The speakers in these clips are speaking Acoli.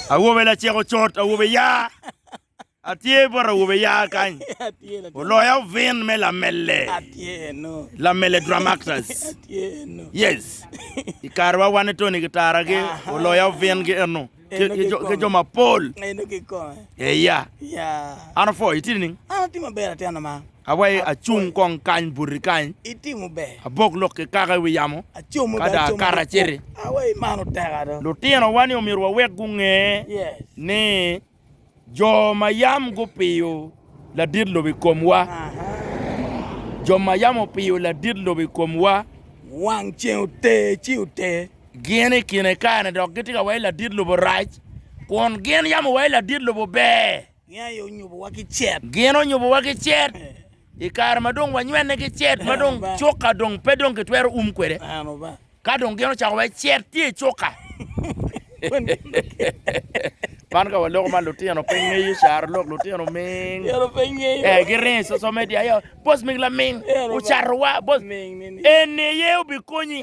Awobe lacek ocot, awobe ya. Atye bot awobe ya kany. Oloya ovin me lamelle. Lamelle Drum Actors. Yes. I kare wa wan Tony ki Tara ki oloya ovin ki eno. Ki jo mapol. Eya. An opwo, itye nining? An atye maber atyena ma. Awai, acung kong kany buti kany, abok lok ki kaka i wi yamo, ka dong akat aciti. Lutinowa-ni omyero wawek gunge ni jo ma yam gupiyo ladit lobo i komwa, jo ma yam opiyo ladit lobo i komwa, gin i kine kare-ni dok gitye ka wai ladit lobo rac, kun gin yam owai ladit lobo ber. Gin aye onyubowa ki cet. Gin onyubowa ki cet. I kare ma dong wanywene ki cet ma dong cuka dong pe dong kitwero um kwede, ka dong gin ocako wai cet tye i cuka. Man ka waloko man lutino pe ngeyo caro lok lutino ming. Eh, giringo i social media aye, boss ming laming ocatowa, boss. Eni aye obikonyi.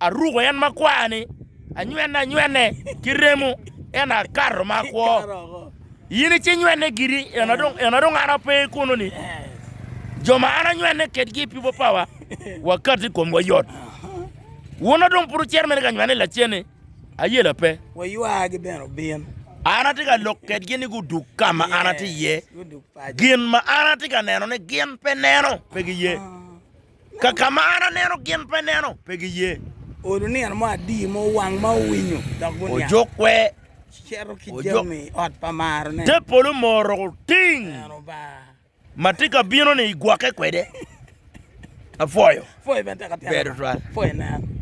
Aruko en makwar-ni, anywene anywene ki remo, ento akato ma akwo. In icin nywene giri, ento dong an ape kunoni. Jo ma an anywene kedgi i pipo pawa, wakati i komwa yot. Wun dong pud wucito mene ka nywene lacen-ni? Ayela pe. Waywagi bene obin. An atye ka lok kedgi ni gudug ka ma an atye iye. Gin ma an atye ka neno ni gin pe neno, pe giye. Kaka ma an aneno, gin pe neno, pe giye. Olo nino mo adii mo wang ma owinyo dok guniang. Ojokwe. Cito ki jami i ot pa marone. Te polo moro ting. Eno ba. Ma tye ka bino ni igwoke kwede. Apwoyo. Pwoyo bene teka tena. Bedo twal. Pwoyo nen.